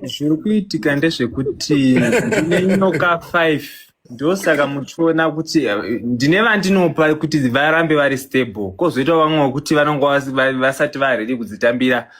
zviri kuitika ndezvekuti ndine nyoka five ndosaka muchiona kuti eh, ndine vandinopa kuti varambe vari stable kozoita vamwe wekuti vanonga vas- va- vasati varedi kudzitambira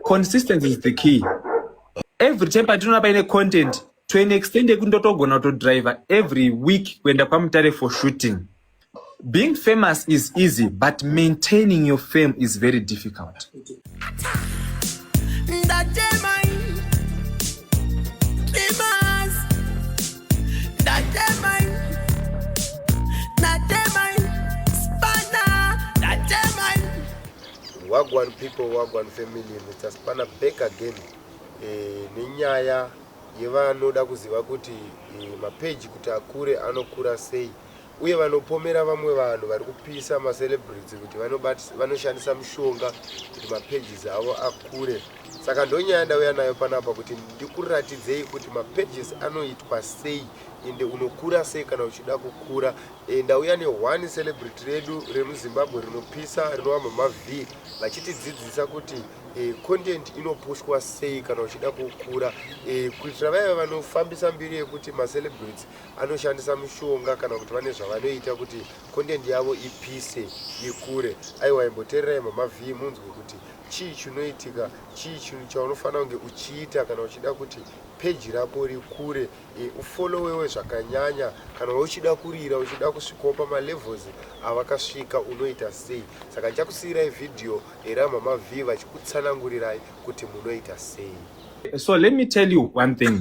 consistency is the key every time patinoona paine content to an extent yekuti ndotogona kutodriver every week kuenda kwamutare for shooting Being famous is easy but maintaining your fame is very difficult. Wagwan people, Wagwan family, Mr. Spanner back again e, nenyaya yevanoda kuziva kuti e, mapeji kuti akure anokura sei uye vanopomera vamwe vanhu vari kupisa macelebrity kuti vanoshandisa mushonga kuti mapages avo akure saka ndonyaya ndauya nayo panapa kuti ndikuratidzei kuti mapages anoitwa sei ende unokura sei kana uchida kukura e, ndauya neone celebrity redu remuzimbabwe rinopisa rinova mama v vachitidzidzisa kuti e, content inopushwa sei kana uchida kukura e, kuitira vaiva vanofambisa mbiri yekuti macelebrity anoshandisa mushonga kana kuti vane zvavanoita kuti content yavo ipise ikure aiwa imbotererai mamavhii munzwe kuti chii chinoitika chii chinhu chaunofanira kunge uchiita kana uchida kuti peji rako rikure e, ufolowewe zvakanyanya kana uchida kurira uchida kusvikawo pamalevels avakasvika unoita sei saka ndichakusiyirai vhidhiyo eramamavhii vachikutsanangurirai kuti munoita sei so let me tell you one thing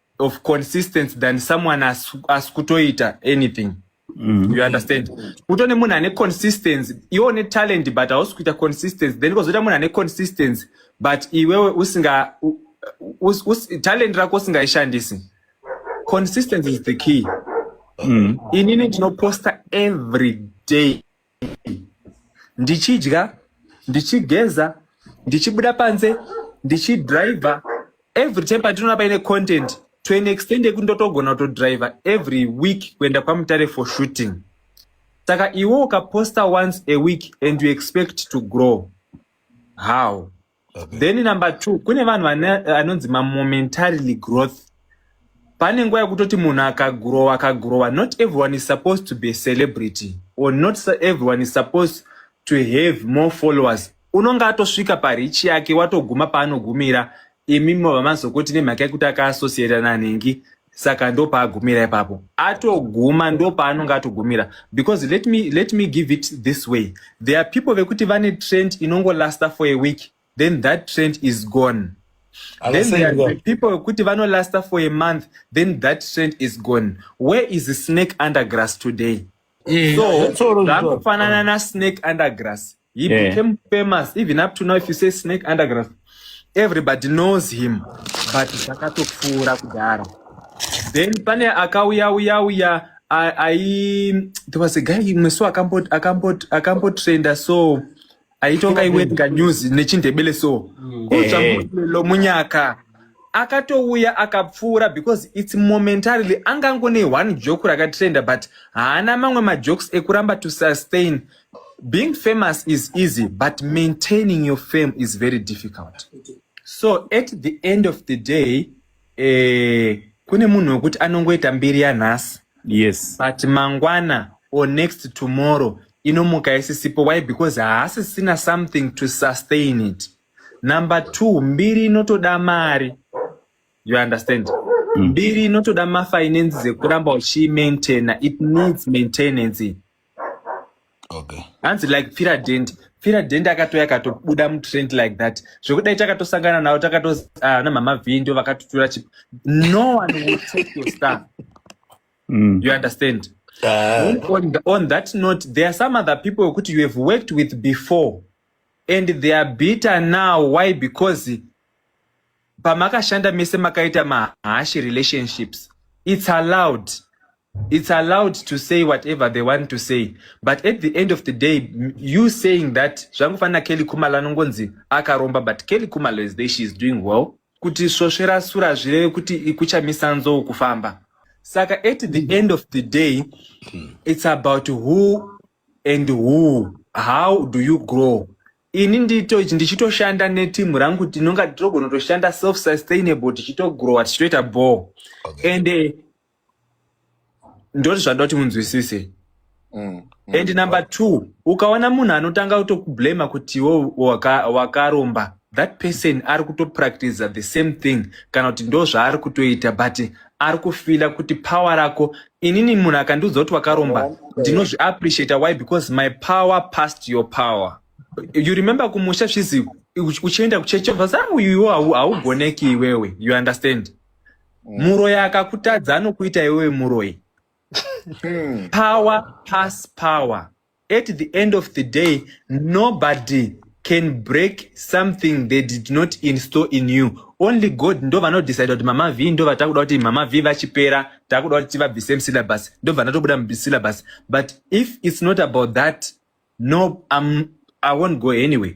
of consistency than someone asikutoita anything Mm. you understand kutone munhu ane consistency iwe une talent but hausi kuita consistency then kozoita munhu ane consistency but iwewe usinga us, us, talent rako usingaishandisi consistency is the key mm. inini ndinoposta every day ndichidya ndichigeza ndichibuda panze ndichidriver every time patinoona paine content to an extent yekuti ndotogona kutodriver every week kuenda kwamutare for shooting saka iwe ukaposta once a week and you expect to grow how Okay. then number two kune vanhu vane anonzi mamomentarily growth pane nguva yekutoti munhu akagrowa akagrowa not everyone is supposed to be a celebrity or not su- everyone is supposed to have more followers unonge atosvika parichi yake watoguma paanogumira imi mobva mazokoti nemhaka yekuti akaassociata nanhingi saka ndopaagumira ipapo atoguma ndopaanonge atogumira because let me, let me give it this way there are people vekuti vane trend inongolasta for a week then that trend is gone then there are people vekuti vanolasta for a month then that trend is gone where is the snake under grass today Eh, so zvitsoro zvitsoro. zvakufanana nasnake undergrass he Yeah. became famous even up to now if you say snake undergrass everybody knows him but zvakatopfuura kudhara then pane akauya uya uya a- ai there was a guy mwesu akambot akambot akambotrenda so aitonga iwerenga news nechindebele so mm. kutsvamulo munyaka akatouya akapfuura because its momentarily anga angone one joke rakatrenda but haana mamwe majokes ekuramba to sustain being famous is easy but maintaining your fame is very difficult so at the end of the day eh, kune munhu wekuti anongoita mbiri yanhasi yes but mangwana or next tomorrow inomuka isisipo why because haasisina something to sustain it number two mbiri inotoda mari you understand mm. mbiri inotoda mafinances ekuramba uchiimaintaina it needs maintenance okay hanzi like pfira dent pfira dent akatouya akatobuda mutrend like that zvekudai takatosangana navo takatozi ah, na mama vhii ndio vakatotura chip no one will take your stuff Mm. you understand Ah, on, on, th- on that note there are some other people wekuti you have worked with before and they are bitter now why because pamakashanda mese makaita mahashi relationships it's allowed It's allowed to say whatever they want to say but at the end of the day you saying that zvangofanira Kelly Kumalo anongonzi akaromba but Kelly Kumalo is there she is doing well kuti svosvera sura zvireve kuti ikuchamisa nzou kufamba saka at the end of the day it's about who and who how do you grow ini ndito ndichitoshanda neteam rangu tinonga tinogonotoshanda self sustainable tichitogrowa tichitoita ball okay. and uh, ndoti zvandoda kuti munzwisise mm, mm. and number two ukaona munhu anotanga kutokublama kuti iwo wakaromba waka that person ari kutopractiza the same thing kana kuti ndo zvaari kutoita but ari kufila kuti power rako inini munhu akandiudza kuti wakaromba ndinozviappreciata why because my power past your power you remember kumusha zvizi uchienda kuchechi vazaa uyuwo haugoneki iwewe you understand Mm. muroyi akakutadza anokuita iwewe muroyi Mm. power pass power at the end of the day nobody can break something they did not install in you only god ndo vanodecide kuti mama v ndo vatakuda kuti mama v vachipera takuda kuti tivabvise musyllabus ndo vanatobuda musyllabus but if it's not about that no I'm, i won't go anyway